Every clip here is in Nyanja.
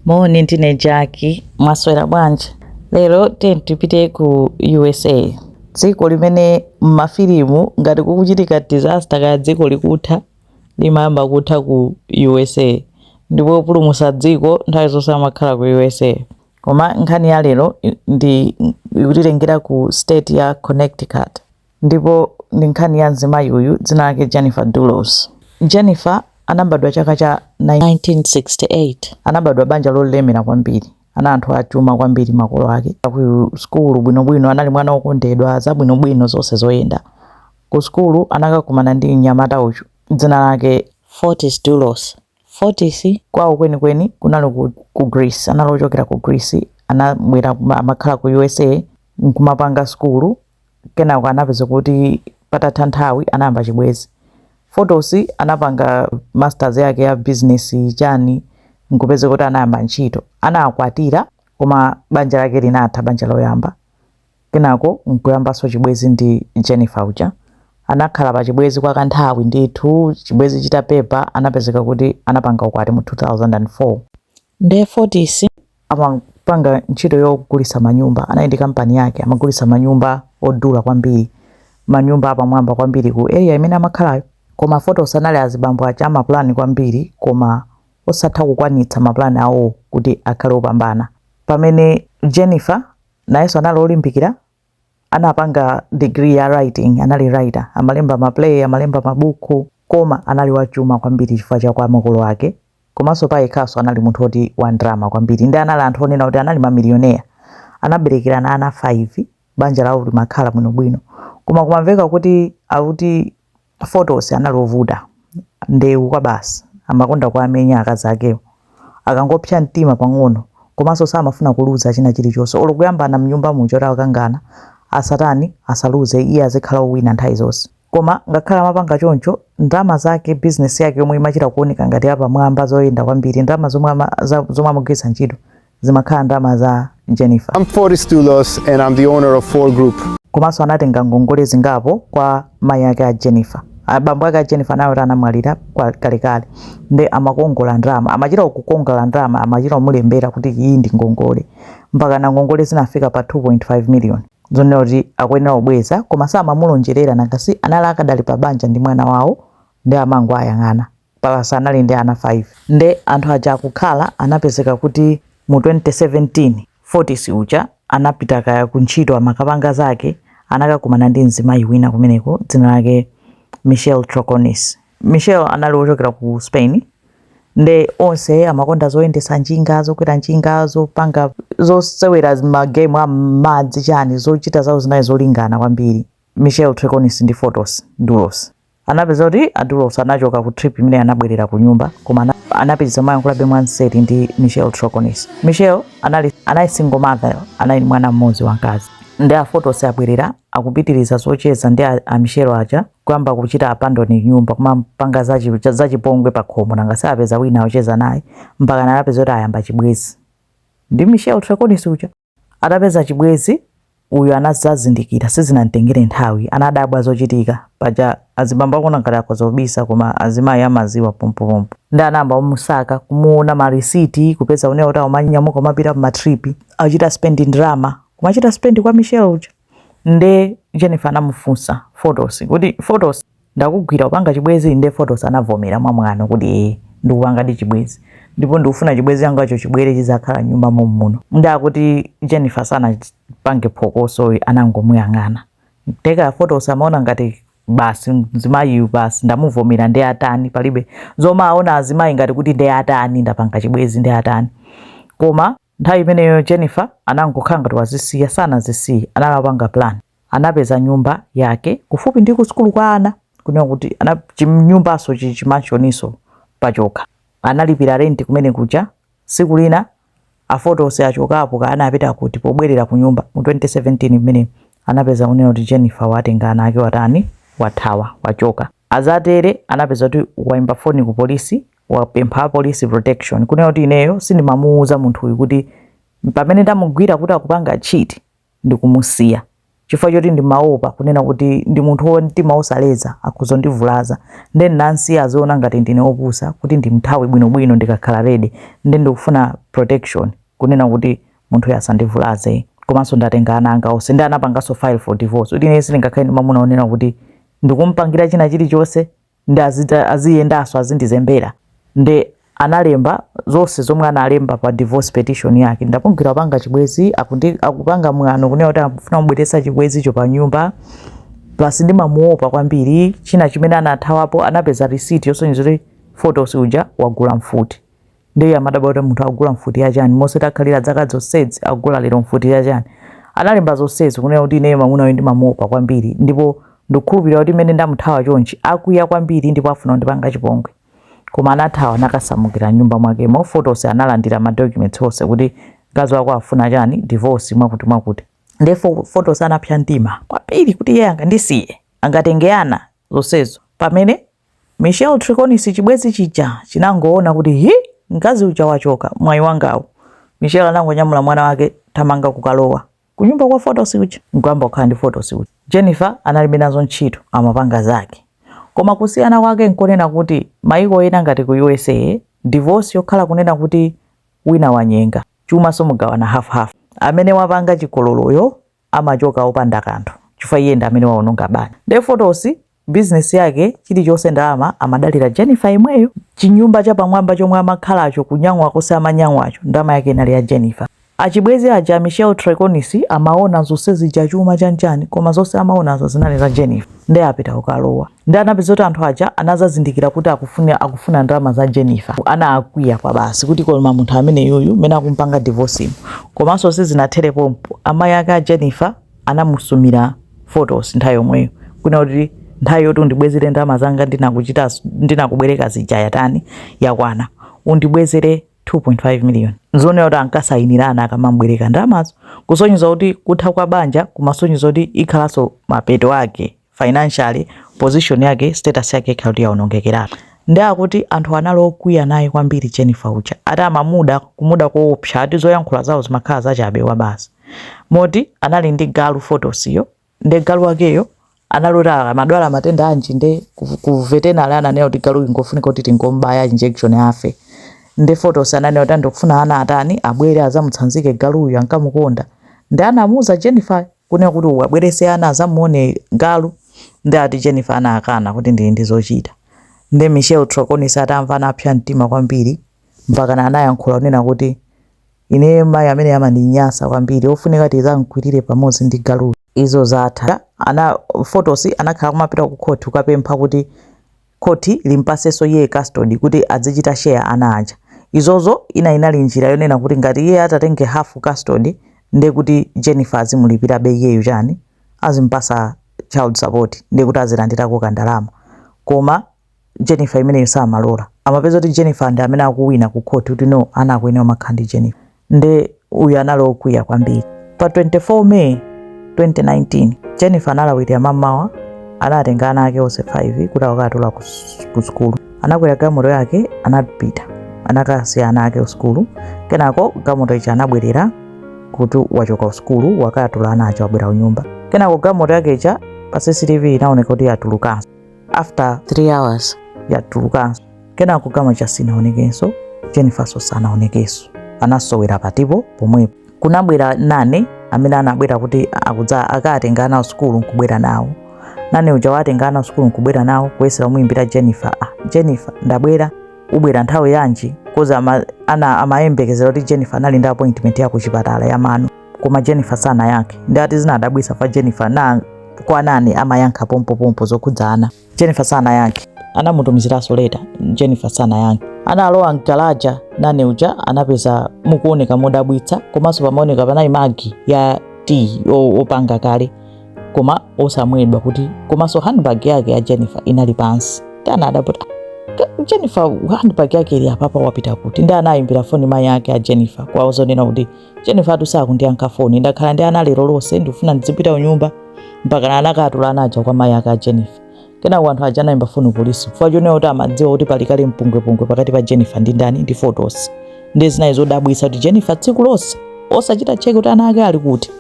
Moni ndine Jaki, mwaswera bwanji? Lero tiyeni tipite ku USA, dziko limene m'mafilimu ngati kukuchitika disaster kaya dziko likutha limayamba kutha ku USA ndipo opulumutsa dziko nthawi zonse amakhala ku USA. Koma nkhani ya lero i- ndi ikutitengera ku state ya Connecticut. Ndipo ndi nkhani ya mzimayi uyu dzina lake Jennifer Dulos. Jennifer anabadwa chaka cha 1968. Anabadwa banja lolemera kwambiri. Ana anthu achuma kwambiri makolo ake. Ku sukulu bwinobwino anali mwana wokondedwa, zabwinobwino zonse zoyenda. Ku sukulu anakakumana ndi mnyamata uyu dzina lake. Fotis Dulos. Fotis. Kwawo kwenikweni kunali ku ku Greece. Anali ochokera ku Greece. Anabwera amakhala ku USA nkumapanga sukulu. kenako anapezeka kuti patatha nthawi anayamba chibwezi Fotis anapanga masters yake ya business chani nkupezeka kuti anayamba ntchito anakwatira koma banja lake linatha banja loyamba kenako nkuyambanso chibwezi ndi jennifer uja anakhala pa chibwezi kwa kanthawi ndithu chibwezi chitapepa anapezeka kuti anapanga ukwati mu 2004 Nde Fotis amapanga ntchito yogulitsa manyumba, anali ndi kampani yake, amagulitsa manyumba odula kwambiri, manyumba apamwamba kwambiri ku area imene amakhalayo. Koma Fotis anali azibambo aja ama plan kwambiri koma osatha kukwanitsa ma plan awo kuti akhale opambana. Pamene Jennifer nayenso anali olimbikira anapanga degree ya writing anali writer amalemba maplay amalemba mabuku koma anali wachuma kwambiri chifukwa cha kwa makolo ake komanso pa yekhaso anali munthu woti wa ndalama kwambiri nde anali anthu onena kuti anali mamiliyonea anaberekerana ana 5 banja lawo limakhala bwinobwino koma kumamveka kuti akuti Fotis anali ovuta, ndewu kwa basi, amakonda kuwamenya akazi akewo akangopsa mtima pang'ono komanso samafuna kuluza china chilichonse olo kuyambana mnyumba muja kuti akakangana asatani asaluze iye azikhala owina nthawi zonse koma ngakhale amapanga choncho ndalama zake business yake yomwe imachita kuoneka ngati yapamwamba zoyenda kwambiri ndalama zomwe ama, za, zomwe amagwiritsa ntchito zimakhala ndalama za Jennifer. I'm Fotis Dulos and I'm the owner of Fore Group. Komanso anatenga ngongole zingapo kwa mayi ake a Jennifer. Abambo ake a Jennifer nawo anamwalira kwa kalekale. Nde amakongola ndalama, amachita kukongola ndalama, amachita kumulembera kuti iyi ndi ngongole. Mpaka na ngongole zinafika pa 2.5 million. Zonena kuti akuyenera kubweza koma samamulonjerera nanga si anali akadali pa banja ndi mwana wawo nde amangowayang'ana. Plus anali ndi ana 5 nde anthu aja akukhala anapezeka kuti mu 2017 Fotis uja anapita kaya ku ntchito amakapanga zake anakakumana ndi mzimayi wina kumeneko dzina lake Michelle Troconis. Michelle anali wochokera ku Spain nde onse amakonda zoyendesa njinga zokwera njinga zopanga zosewera magemu amadzi chani zochita zawo zinali zolingana kwambiri Michelle Troconis ndi Fotis Dulos. anapeza kuti adulos anachoka ku trip imene anabwerera ku nyumba koma anapitiriza mayankhulabe mwanseri ndi michelle troconis michelle anali anali single mother anali ndi mwana mmodzi wamkazi ndi a fotis abwerera akupitiriza zocheza ndi a- a michelle aja kuyamba kuchita abandoni nyumba kumapanga zachi- cha- zachipongwe pa khomo nanga sapeza wina ocheza naye mpaka anapeza kuti ayamba chibwezi ndi michelle troconis uja Atapeza chibwezi, uyu anazazindikira sizinamtengere nthawi anadabwa zochitika paja azibambo akuona ngati akhoza kubisa koma azimayi amaziwa pompopompo nde anayamba kumusaka kumuona marisiti kupeza kunena kuti amanyamuka kumapita ku matripi achita spendi ndalama kumachita spendi kwa michelle uja nde jennifer anamufunsa fotis kuti fotis ndakugwira upanga chibwezi nde fotis anavomera mwamwano kuti ee ndikupangadi chibwezi ndipo ndikufuna chibwezi changacho chibwere chizakhala nyumba mommuno nde akuti jennifer sanapange phokoso anangomuyang'ana nde ka fotis amaona ngati basi mzimayiyu basi ndamuvomera nde atani palibe zoti amaona azimayi ngati kuti nde atani ndapanga chibwezi nde atani koma Nthawi imeneyo Jennifer anangokhala ngati wazisiya, sanazisiye, anali akupanga plan. Anapeza nyumba yake kufupi ndi kusukulu kwa ana, kunena kuti ana chinyumbanso chi chimansioniso pachokha. Analipira rent kumene kuja. Tsiku lina a Fotis achokapo kaya anapita kuti, pobwerera kunyumba mu 2017 mmenemo anapeza kunena kuti Jennifer watenga ana ake watani, wathawa, wachoka. Atatere anapeza kuti waimba foni ku polisi, wapempha apolisi protection, kunena kuti ineyo sindimamuuza munthuyu kuti pamene ndamugwira kuti akupanga cheat ndikumusiya chifukwa choti ndimaopa kunena kuti ndi munthu wa mtima wosaleza akhoza kundivulaza nde ndinamsiya aziona ngati ndine wopusa kuti ndimthawe bwinobwino ndikakhala ready nde ndikufuna protection kunena kuti munthuyo asandivulaze komanso ndatenga ana anga onse nde anapanganso file for divorce kuti ineyo sindingakhale ndi mwamuna wonena kuti ndikumupangira china chilichonse nde azita- aziyendanso azindizembera nde analemba zonse zomwe analemba pa divorce petition yake ndamugwira kupanga chibwezi akundi- akupanga mwano kunena kuti akufuna kubweretsa chibwezicho pa nyumba plus ndimamuopa kwambiri china chimene anathawapo anapeza receipt yosonyeza kuti fotis uja wagula mfuti ndiye amadabwa kuti munthu akugula mfuti ya chani monse takhalira muja dzaka zonsezi agula lero mfuti ya chani analemba zonsezi kunena kuti ineyo mamuna uyu ndimamuopa kwambiri ndipo ndikukhulupirira kuti mmene ndamuthawa chonchi akwiya kwambiri ndipo afuna kundipanga chipongwe koma anathawa nakasamukira nyumba mwakemo Fotosi analandira madocuments onse kuti mkazi wako afuna chani divorce mwakuti mwakuti ndiye fotosi anapsa mtima kwambiri kuti iye angandisiye angatenge ana zonsezo pamene Michelle Troconis chibwezi chija chinangoona kuti ii mkazi uja wachoka mwayi wangawu. Michelle anangonyamula mwana wake thamanga kukalowa kunyumba kwa Photos uja nkuyamba kukhala ndi Photos uja. Jennifer analibe nazo ntchito amapanga zake. Koma kusiyana kwake nkonena kuti mayiko ena ngati ku usa divorce yokhala kunena kuti wina wanyenga chuma so mugawana half half. Amene wapanga chigololoyo amachoka opanda kanthu chifukwa iye ndi amene waononga banja nde fotosi bizinesi yake chilichonse ndalama amadalira jennifer yemweyo chinyumba chapamwamba chomwe amakhalacho kunyang'wa konse amanyang'wacho ndalama yake inali ya jennifer achibwezi aja a michel troconis amaona zonse zija chuma chanchani koma zonse amaonazo zinali za jennifer nde apita kukalowa nde amapeza kuti anthu aja anazazindikira kuti akufuna, akufuna ndalama za Jennifer. Anakwiya kwa basi kuti koma munthu ameneyuyu mene akumpanga divorce komanso sizinathere pompo, amayi ake a Jennifer anamusumira photos nthawi yomweyo kunena kuti nthawi yoti undibwezere ndalama zanga ndinakuchita ndinakubwereka zija yatani yakwana undibwezere 2.5 million zoona ati ankasayinirana akamambwereka ndalamazo kusonyeza kuti kutha kwa banja kumasonyeza kuti ikhalanso mapeto ake financially position yake status yake ikhala kuti yaonongekeratu ndi akuti anthu anali okwiya naye kwambiri Jennifer uja ati amamuda kumuda koopsa ati zoyankhula zawo zimakhala zachabe wabasi moti anali ndi galu fotosiyo ndi galu wakeyo anali kuti amadwala matenda anji nde ku- ku veterinary ananena kuti galuyu ngofunika kuti tingombaya injection afe nde fotos ananena kuti a ndikufuna ana atani abwere azamutsanzike galuyu ankamukonda nde anamuuza Jennifer kunena kuti uwabwerese ana azamuone galu nde ati Jennifer anakana kuti ndili ndi zochita nde Michelle Troconis atamva anapsa mtima kwambiri mpakana anayankhula kunena kuti ineyo mayi ameneyo amandinyasa kwambiri ofunika tizamkwirire pamodzi ndi galuyu izo zatha a Photos anakhala akumapita ku court kukapempha kuti khoti limpasenso iye custody kuti adzichita share ana aja. Izozo inali njira yonena kuti ngati iye atatenge half custody nde kuti Jennifer azimulipirabe iyeyu chani, azimpasa child support nde kuti azilandirako kandalama. Koma Jennifer imeneyo samalola. Amapeza kuti Jennifer ndi amene akuwina ku khoti kuti no ana akuyenera kumakhala ndi Jennifer. nde uyu anali okwiya kwambiri pa 24 may 2019 jennifer analawirira mamawa anatenga ana ake onse 5 kuti akatula ku s- ku sukulu anakwera gamoto yake anapita anakasiya ana ake kusukulu kenako gamoto ija anabwerera kuti wachoka kusukulu wakatula ana aja wabwera kunyumba kenako gamoto yake ija pa cctv inaoneka kuti yatulukanso after 3 hours yatulukanso kenako gamoto ija sinaonekenso jennifernso sanaonekenso anasowera patipo pomwepo kunabwera nanny amene anabwera kuti akudza akatenga ana kusukulu nkubwera nawo nanny uja watenga ana kusukulu nkubwera nawo kuyesera kumuyimbira jennifer ah, jennifer ndabwera ubwera nthawi yanji cause ama, ana amayembekezera kuti jennifer anali ndi appointment ya kuchipatala ya mano koma Jennifer sanayankhe nde ati zinadabwitsa chifukwa Jennifer na kwa nanny amayankha pompopompo zokhudza ana Jennifer sanayankhe anamutumiziranso later Jennifer sanayankhe analowa mgalaja nanny uja anapeza mukuoneka modabwitsa komanso pamaoneka panali mug ya tiyi opanga kale koma osamwedwa kuti komanso handbag yake ya Jennifer inali pansi anadabwa kuti Jennifer handbag yake ili apapa wapita kuti nde anayimbira foni mai yake a Jennifer kuwauza zonena kuti Jennifertu sakundiyankha foni ndakhala ndi ana lero lonse ndikufuna ndidzipita kunyumba mpakana anakatula ana aja kwa mayi ake a Jennifer. Kenako anthu aja anayimba foni kupolisi chifukwa chonena kuti amadziwa kuti pali kale mpungwepungwe pakati pa Jennifer ndi ndani ndi Fotis. Ndiye zinali zodabwitsa kuti Jennifer tsiku lonse osachita check kuti ana ake ali kuti.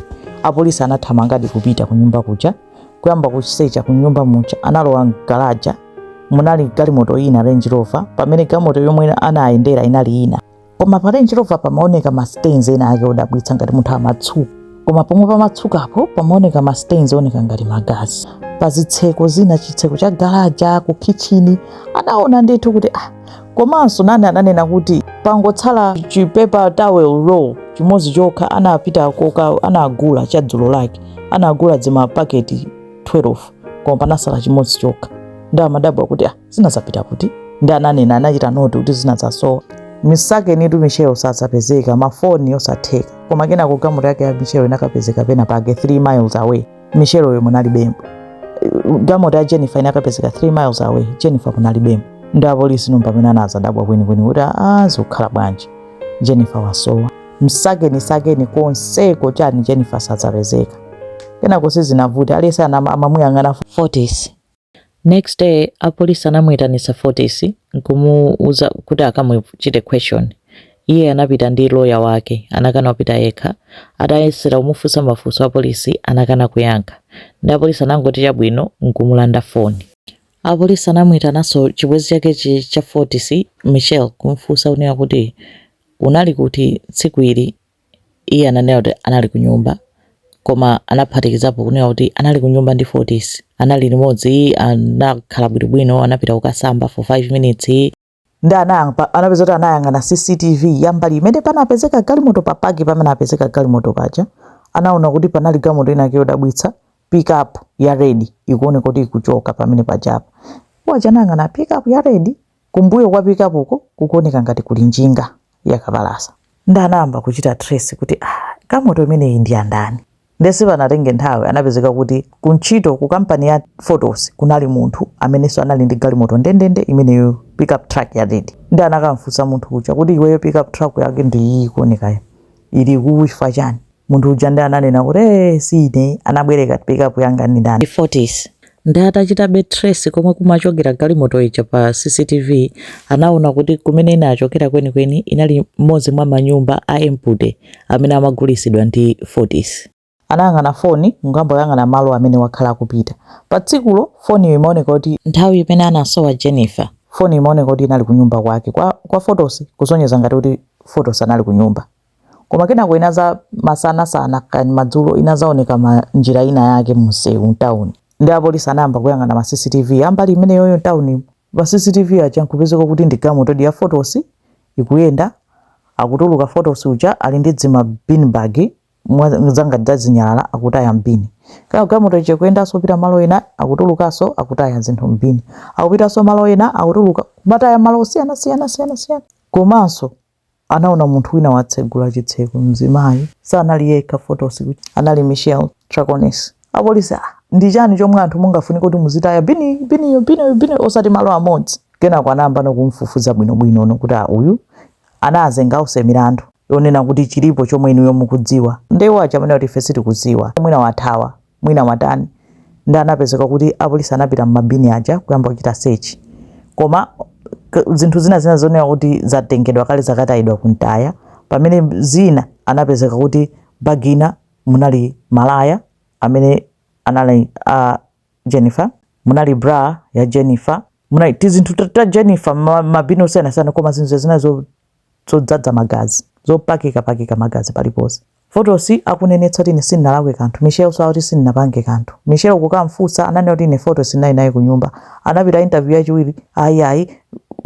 Apolisi anathamangadi kupita kunyumba kuja kuyamba kusecha kunyumba muja analowa mgalaja munali galimoto ina Range Rover pamene galimoto yomwe anayendera inali ina. koma pa Range Rover pamaoneka ma stains ena ake odabwitsa ngati munthu amatsuka koma pomwe pamatsukapo pamaoneka ma stains oneka ngati magazi pa zitseko zina chitseko cha galaja ku kitchini anaona ndithu kuti ah komanso nanny ananena kuti pangotsala chi paper towel roll chimodzi chokha anapita kuka- anagula cha dzulo lake anagula dzimapaketi 12 koma panatsala chimodzi chokha nde amadabwa kuti ah zinadzapita kuti nde ananena anachita note kuti zinadzasowa msakenitu michelle sadzapezeka mafoni osatheka koma kenako gamoto yake ya michelle inakapezeka pena pake 3 miles away michelle uyo munalibemo gamoto ya jennifer inakapezeka 3 miles away jennifer munalibemo nde apolisi nomba pamene anadzadabwa kwenikweni kuti aa zikukhala bwanji jennifer wasowa msakeni sakeni konseko chani jennifer sadzapezeka kenako sizinavuta aliyense ana- amamuyang'ana fotis Next day apolisi anamuitanitsa Fotis nkumuuza kuti akamuchite question. Iye anapita ndi lawyer wake, anakana kupita yekha. Atayesera kumufunsa mafunso apolisi anakana kuyankha. Ndi apolisi anangoti chabwino nkumulanda phone. Apolisi anamuitananso chibwenzi chake cha Fotis, Michelle, kumufunsa kunena kuti unali kuti tsiku ili Iye ananena kuti anali kunyumba, koma anaphatikizapo kunena kuti anali kunyumba ndi Fotis. Anali limodzi, anakhala bwinobwino, anapita kukasamba for 5 minutes. Nde anayamba, anapeza kuti anayang'ana CCTV ya mbali imene panapezeka galimoto pa park pamene apezeka galimoto paja. Anaona kuti panali galimoto inayake yodabwitsa, pick up ya red, ikuoneka kuti ikuchoka pamene pajapa. Iwo aja anayang'ana pick up ya red, Kumbuyo kwa pickup uko kukuoneka ngati kuli njinga ya kapalasa. Nde anayamba kuchita trace kuti ah, galimoto imeneyi ndi yandani. Nde sipanatenge nthawi anapezeka kuti kuntchito ku kampani ya Fotis kunali munthu amenenso anali ndi galimoto ndendende imeneyo pickup truck ya red. Nde anakamfunsa munthu uja kuti iweyo pickup truck yako ndi iyi ikuonekayo ili kuku chifukwa chani? Munthu uja nde ananena kuti eeh si ine anabwereka pickup yanga ndi ndani? Fotis nde atachitabe trace komwe kumachokera galimoto ija pa CCTV anaona kuti kumene inachokera kwenikweni inali mmodzi mwa manyumba a empty amene amagulisidwa ndi Fotis. Anayang'ana foni nkuyamba kuyang'ana malo amene wakhala akupita pa tsikulo foniyo imaoneka kuti. Nthawi imene anasowa Jennifer. Foni imaoneka kuti inali kunyumba kwake kwa kwa Fotis kusonyeza ngati kuti Fotis anali kunyumba. koma kenako inaza masana sana kani madzulo inazaoneka mu njira ina yake mumsewu mtauni ndi apolisi anayamba kuyang'ana ma cctv ambali imeneyoyo mtauni ma cctv aja nkupezeka kuti ndi galimoto ya fotis ikuyenda akutuluka fotis uja ali ndi zima bin bag mwa- zanga zazinyalala akutaya mbini kaya galimoto ija kuyendanso kupita malo ena akutulukanso akutaya zinthu mbini akupitanso malo ena akutuluka kumataya malo osiyana siyana siyana siyana komanso anaona munthu wina watsegula chitseko mzimayi sanali yekha fotis anali michelle troconis apolisi ah, ndi chani chomwe anthu mungafunike kuti muzitaya bini biniyo biniyo bino osati malo amodzi kenako anayambano kumfufuza bwinobwinono kuti ah, uyu anazenga onse milandu yonena kuti chilipo chomwe inuyo mukudziwa nde iwo aja amanena kuti ife sitikudziwa mwina wathawa mwina watani ndi anapezeka kuti apolisi anapita mmabini aja kuyamba kuchita search koma k- zinthu zina zina zonena kuti zatengedwa kale zakatayidwa kumtaya pamene zina anapezeka kuti bagi ina munali malaya amene anali a jennifer munali bra ya jennifer munali tizinthu ta- ta jennifer ma- mabini osiyanasiyana koma zinthu zazina zo zodzadza magazi, zopakikapakika magazi paliponse. Fotis akunenetsa kuti ine sindinalakwe kanthu. Michelle-nso akuti sindinapange kanthu. Michelle kukam'funsa, ananena kuti ine Fotis ndinali naye kunyumba. Anapita interview yachiwiri, ayi ayi,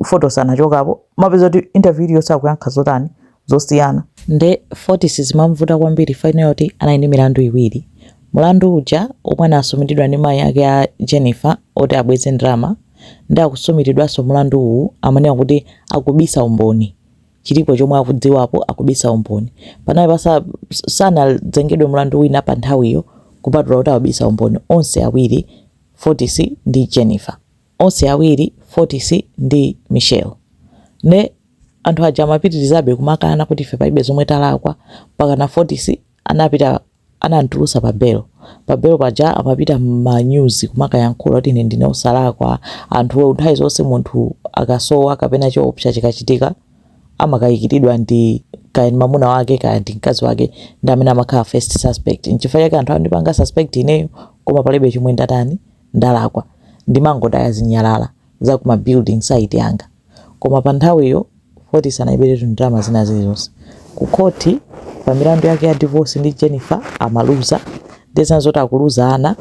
Fotis anachokapo. Mumapeza kuti interview iliyonse akuyankha zotani? Zosiyana. Nde Fotis zimam'vuta kwambiri chifukwa ayenera kuti anali ndi milandu iwiri. Mlandu uja womwe anasumiridwa ndi mayi ake a Jennifer woti abweze ndalama, nde akusumiridwaso mulandu uwu amanena kuti akubisa umboni chilipo chomwe akudziwapo akubisa umboni panali pasanazengedwe mulandu wina pa nthawiyo kupatula kuti akubisa umboni onse awiri Fotis ndi Jennifer onse awiri Fotis ndi Michelle ne anthu aja amapitirizabe kumakana kuti ife palibe zomwe talakwa mpakana Fotis anapita anamtulutsa pa belo. Pa belo paja amapita m'ma news kumakayankhula kuti ine ndine osalakwa. Anthu nthawi zonse munthu akasowa kapena choopsa chikachitika amakayikiridwa ndi kaya ndi mamuna wake kaya ndi mkazi wake ndi amene amakhala first suspect. Nchifukwa chake anthu andipanga suspect ineyo koma palibe chomwe ndatani, ndalakwa. Ndimangotaya zinyalala za ku ma building site anga. Koma pa nthawiyo Fotis analiberetu ndalama zina zilizonse. Ku khoti pa milandu yake ya divorce ndi Jennifer amaluza. Ndiye zina zoti akuluza ana,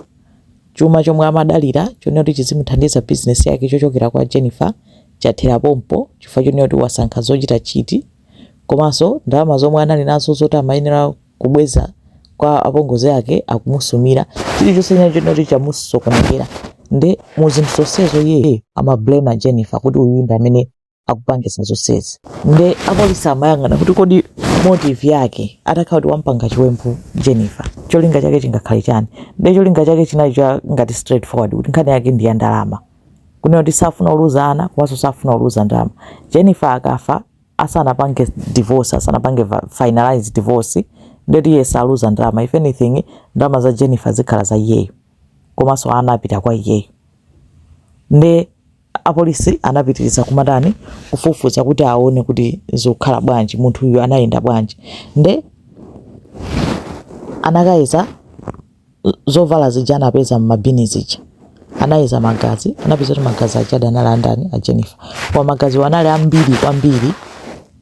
chuma chomwe amadalira chonena kuti chizimuthandiza business yake chochokera kwa Jennifer chathera pompo chifukwa chonena kuti wasankha zochita cheat komanso ndalama zomwe anali nazo zoti amayenera kubweza kwa apongozi ake akumusumira chilichonse china chonena kuti chamusokonekera nde mu zinthu zonsezo iye amablame jennifer kuti uyu ndi amene akupangisa zonsezi nde apolisi amayang'ana kuti kodi motive yake atakhala kuti wampanga chiwembu jennifer cholinga chake chingakhale chani nde cholinga chake chinali cha ngati straightforward kuti nkhani yake ndi ya ndalama kunena kuti safuna uluza ana komanso safuna uluza ndalama jennifer akafa asanapange divorce asanapange finalize divorce ndeti iye saluza ndalama if anything ndalama za Jennifer zikhala za iyeyo komanso ana apita kwa iyeyo nde apolisi anapitiriza kumatani kufufuza kuti aone kuti zikukhala bwanji munthu uyu anayenda bwanji nde anakayeza zovala zija anapeza m'mabini zija anayeza magazi anapeza kuti magazi aja analidi andani a jennifer koma magaziwo anali ambiri kwambiri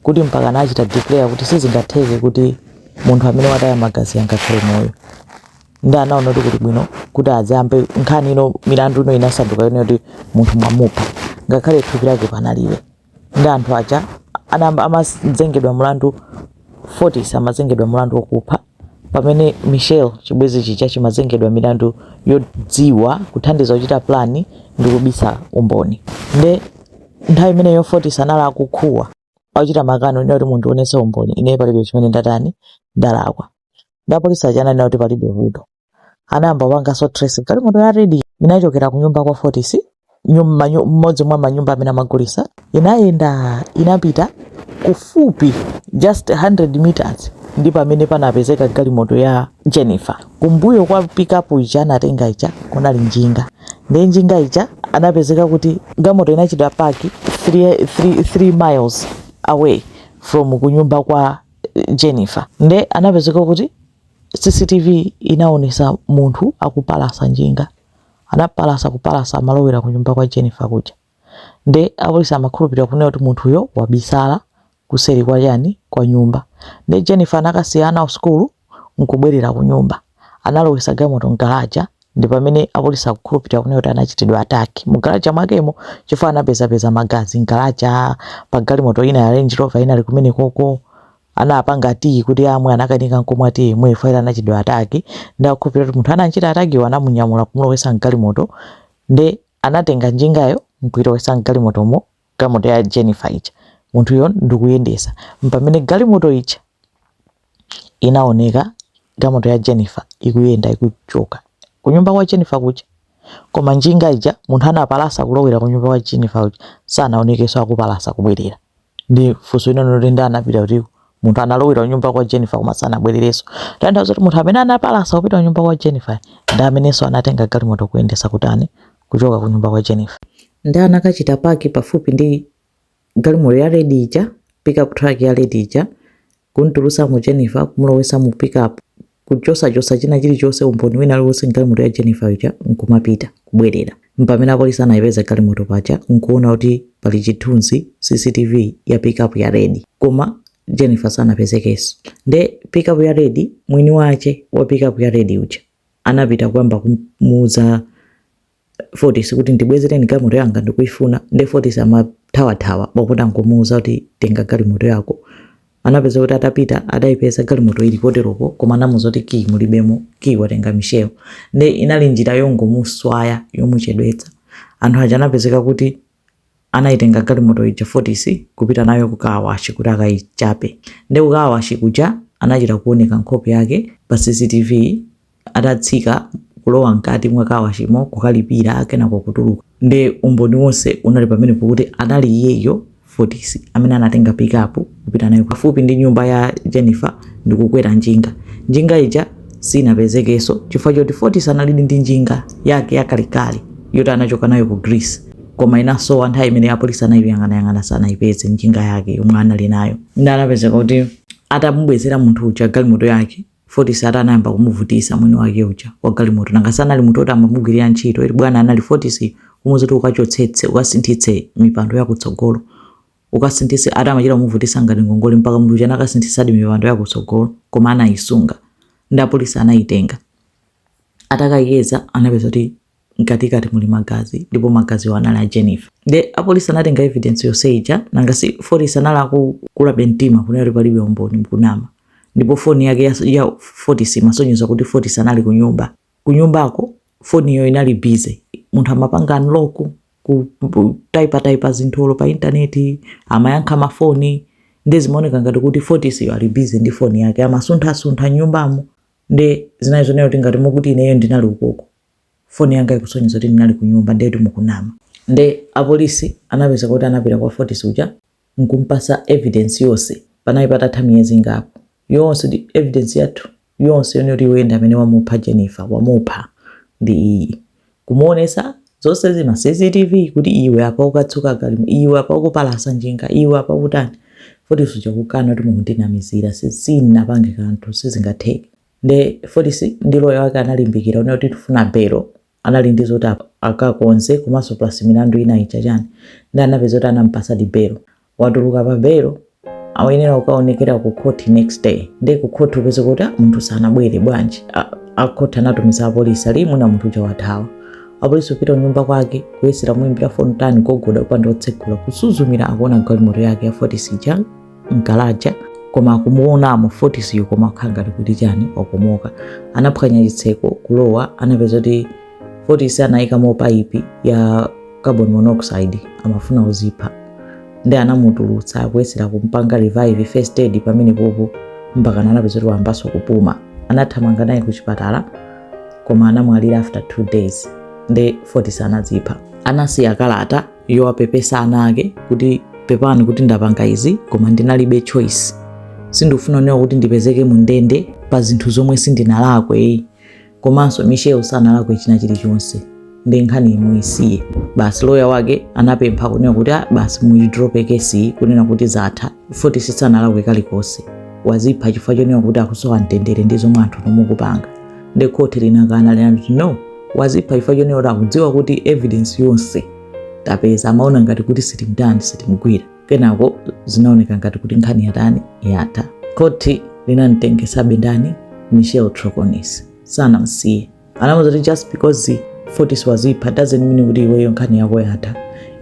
kuti mpaka anachita declare kuti sizingatheke kuti munthu amene wataya magazi angakhale moyo ndi anaona kuti kuli bwino kuti aziyambe nkhani ino milandu ino inasanduka yonena kuti munthu mwamupha ngakhale thupi lake panalibe ndi anthu aja anayamba amazengedwa mlandu fortis amazengedwa mlandu wokupha pamene michel chibwenzi chija chimazengedwa milandu yodziwa kuthandiza kuchita plani ndi kubisa umboni nde nthawi imeneyo fortis anali akukhuwa akuchita makano ina kuti mundionetse umboni ine palibe chimene ndatani ndalakwa nde apolisi aja ananena kuti palibe vuto anayamba kupanganso trace galimoto ya redi inachokera ku nyumba kwa fortis nyum- manyu- mmodzi mwa manyumba amene amagulisa inayenda inapita kufupi just 100 meters ndi pamene panapezeka galimoto ya jennifer kumbuyo kwa pikapu ija anatenga ija kunali njinga nde njinga ija anapezeka kuti galimoto inachita paki 3 miles away from kunyumba kwa eh, jennifer nde anapezeka kuti CCTV inaonesa munthu akupalasa njinga. Anapalasa kupalasa amalowera ku nyumba kwa Jennifer kuja. Nde apolisi amakhulupirira kunena kuti munthuyo wabisala kuseri kwa chani kwa nyumba. Nde Jennifer anakasiya ana kusukulu nkubwerera ku nyumba. Analowesa galimoto mgalaja ndi pamene apolisi akukhulupirira kunena kuti anachitidwa attack mu galaja mwakemo chifukwa anapezapeza magazi mgalaja, pa galimoto ina ya Range Rover inali kumenekoko, anapanga tiyi kuti amwe anakanika nkumwa tiyi mwe faira anachitidwa ataki nde akukhulupirira kuti munthu anamchita atakiyo anamunyamula kumulowesa mgalimoto ndi anatenga njingayo nkuilowesa mgalimotomo galimoto ya Jennifer ija munthuyo ndikuyendesa mpamene galimoto ija inaoneka galimoto ya Jennifer ikuyenda ikuchoka kunyumba kwa Jennifer kuja koma njinga ija munthu anapalasa kulowera kunyumba kwa Jennifer kuja sanaonekeso akupalasa kubwerera nde funso linali loti nde anapita kuti munthu analowera kunyumba kwa Jennifer koma sanabwererenso kutanthauza kuti munthu amene anapalasa kupita kunyumba kwa Jennifer ndi amenenso anatenga galimoto kuyendesa kutani kuchoka ku nyumba kwa Jennifer nde anakachita paki pafupi ndi galimoto ya red ija pickup truck ya red ija Kumtulutsamo Jennifer, kumulowetsa mu pickup, kuchotsachotsa china chirichonse, umboni wina uliwonse mgalimoto ya Jennifer ija, nkumapita, kubwerera. Mpamene apolisi anaipeza galimoto paja, nkuwona kuti pali chithunzi, CCTV, ya pickup ya red. Koma Jennifer sanapezekenso. Ndiye pickup ya red, mwini wache wa pickup ya red uja, anapita kuyamba kumuuza Fortis kuti ndibwezereni galimoto yanga ndikuifuna nde Fortis amathawathawa pakutha nkumuuza kuti tenga galimoto yako anapezeka kuti atapita adaipeza galimoto ilipo teroko koma anamuuza kuti kiyi mulibemo kiyi watenga Michelle nde inali njira yongomuswaya yomuchedwetsa anthu aja anapezeka kuti anaitenga galimoto ija Fortis kupita nayo ku kaawashi kuti akaichape nde ku kaawashi kuja anachita kuoneka nkhope yake pa cctv atatsika kulowa mkati mwa kaawashimo kukalipira kenako kutuluka nde umboni wonse unali pamenepo kuti anali iyeyo Fortis amene anatenga pikapu Kupita nayo pafupi ndi nyumba ya Jennifer ndi kukwera njinga. Njinga ija sinapezekenso chifukwa choti Fortis analidi ndi njinga yake yakalekale yoti anachoka nayo ku Greece koma inasowa nthawi imene apolisi anayiyang'anayang'ana sanayipeze njinga yake yomwe anali nayo. Nde anapezeka kuti atamubwezera munthu uja galimoto yake Fortis ati anayamba kumuvutisa mwini wake uja wa galimoto nanga sanali munthu oti amamugwirira ntchito eti bwana anali Fortis kumuuza kuti ukachotsetse ukasinthitse mipando yakutsogolo ukasinthitse ati amachita kumuvutisa ngati ngongole mpaka munthu uja anakasinthitsadi mipando ya kutsogolo koma anayisunga nde apolisi anayitenga atakayeza anapeza kuti mkatikati muli magazi ndipo magaziwo anali a jennifer nde apolisi anatenga evidence yonse ija nanga si fortis anali akukulabe mtima kunena kuti palibe umboni mukunama ndipo foni yake ya, ya fortis imasonyeza kuti fortis anali kunyumba kunyumbako foniyo inali busy munthu amapanga unlock kutaipataipa zinthu olo pa intaneti amayankha mafoni nde zimaoneka ngati kuti Fortis yo ali busy ndi foni yake amasunthasuntha m'nyumbamo nde zinali zonena kuti ngati mukuti ineyo ndinali ukoko foni yanga ikusonyeza kuti ndinali kunyumba ndetu mukunama nde apolisi anapezeka kuti anapita kwa Fortis uja nkumpatsa evidence yonse panali patatha miyezi ingapo yonse ndi evidence yathu yonse yonena kuti iwe ndamene wamupha Jennifer wamupha ndi iyi kumuonesa zonse za ma CCTV kuti iwe apa ukatsuka galimo iwe apa ukupalasa njinga iwe apa ukutani Fortis uja kukana kuti mukundinamizira sindinapange kanthu sizingatheke nde Fortis ndi loya wake analimbikira unena kuti tifuna belo anali ndi zoti akakonze komanso plus milandu ina ija chani nde anapeza kuti anampasadi belo watuluka pa belo ayenera kukaonekera ku court next day nde ku court upeza kuti "Ah, munthu sanabwere bwanji A- a court anatumiza apolisi ali mwina munthu uja wathawa apolisi upita kunyumba kwake kuyesera muimbira foni tani gogoda kupanda otsegula kusuzumira akuona galimoto yake ya Fortis ija mgalaja koma kumuonamo Fortis yo koma kukhala ngati kuti chani wakomoka anaphwanya chitseko kulowa anapeza kuti Fortis anayikamo paipi ya carbon monoxide amafuna kuzipha nde anamutulutsa kuyesera kumpanga revive first aid pamenepopo mpaka anapeza kuti wayambanso kupuma anathamanga naye ku chipatala koma anamwalira after two days nde Fortis anazipha anasiya kalata yowapepesa ana ake kuti pepani kuti ndapanga izi koma ndinalibe choice sindikufuna newa kuti ndipezeke mu ndende pa zinthu zomwe sindinalakwe komanso michelle sanalakwe china chilichonse ndi nkhaniyi mumusiye basi loya wake anapempha kunena kuti "Ah, basi muyidrope kesi kunena kuti zatha fotis sanalakwe kalikonse wazipha chifukwa chonena kuti akusowa mtendere ndi zomwe anthu nomukupanga nde khoti linakana linati no wazipha chifukwa chonena kuti akudziwa kuti evidence yonse tapeza amaona ngati kuti sitimtani sitimgwira kenako zinaoneka ngati kuti nkhani yatani yatha khoti linamtengesabe ndani michelle troconis sanamsiye anamuza kuti just because fotis wazipha doesn't mean kuti iweyo nkhani yako yatha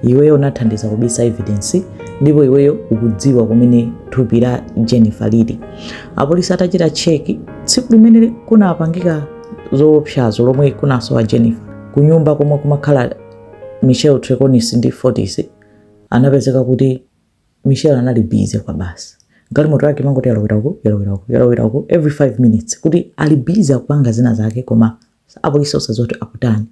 iweyo unathandiza kubisa evidence ndipo iweyo ukudziwa kumene thupi la jennifer lili apolisi atachita cheki tsiku limene kunapangika zoopsazo lomwe kunasowa jennifer kunyumba komwe kumakhala michelle troconis ndi fotis anapezeka kuti michelle anali bize kwabasi galimoto yake imangoti yalowera uku yalowera uku yalowera uku every 5 minutes kuti ali bize akupanga zina zake koma Apolisi osadziwa kuti akutani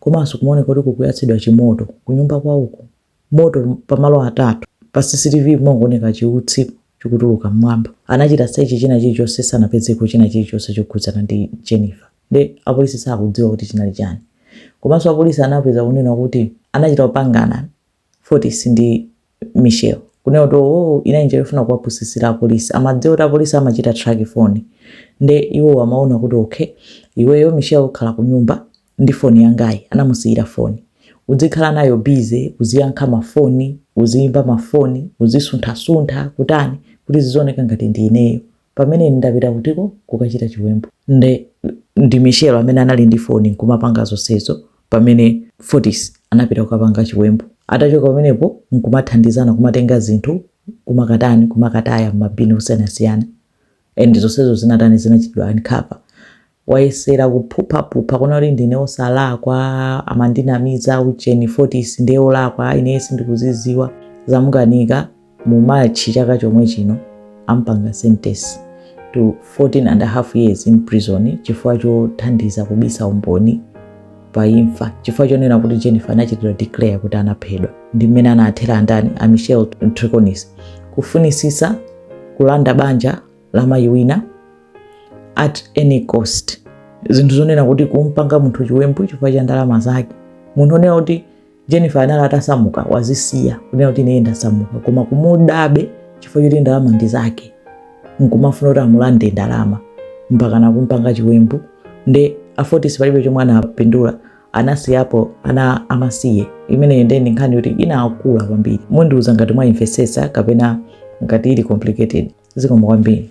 komanso kumaoneka kuti kukuyatsidwa chimoto kunyumba kwawoko. Moto pamoto atatu. Pa CCTV kumangooneka chiutsi chikutuluka m'mwamba. Anachita search china chilichonse sanapezeko china chilichonse chokhudzana ndi Jennifer. Nde apolisi sakudziwa kuti chinali chani. Komanso apolisi anapeza kunena kuti anachita kupangana Fotis ndi Michelle kunena kuti iwowo inali njira yofuna kuwapusitsira apolisi amadziwa kuti apolisi amachita track foni nde iwowo amaona kuti ok iweyo Michelle ukhala kunyumba ndi foni yangayi anamusiyira foni udzikhala nayo busy uziyankha ma foni uziyimba ma foni uzisunthasuntha kutani kuti zizioneka ngati ndi ineyo pamene ine ndapita kutiko kukachita chiwembu. Nde, ndi Michelle amene anali ndi foni nkumapanga zonsezo pamene Fotis anapita kukapanga chiwembu. Atachoka pamenepo nkumathandizana kumatenga zinthu kumakatani, kumakataya mma bin osiyanasiyana. And zonsezo zinatani, zinachitidwa uncover. wayesera kuphuphaphupha kunena kuti ndine osalakwa amandinamiza ujeni fotis ndiye olakwa ineyo sindikuzidziwa zamukanika mu march chaka chomwe chino ampanga sentence to 14 and a half years in prison chifukwa chothandiza kubisa umboni pa imfa chifukwa chonena kuti jennifer anachitidwa declare kuti anaphedwa ndi mmene anathera andani a michelle troconis kufunitsitsa kulanda banja la mayi wina at any cost zinthu zonena kuti kumpanga munthu chiwembu chifukwa cha ndalama zake munthu onena kuti jennifer anali atasamuka wazisiya kunena kuti ine ndasamuka koma kumudabe chifukwa choti ndalama ndi zake nkumafuna kuti amulande ndalama mpaka nakumpanga chiwembu nde a fotis palibe chomwe anapindula anasiyapo ana amasiye imeneyo ndiye ndi nkhani yoti inakula kwambiri mundiuza ngati mwaimvesesa kapena ngati ili complicated zikomo kwambiri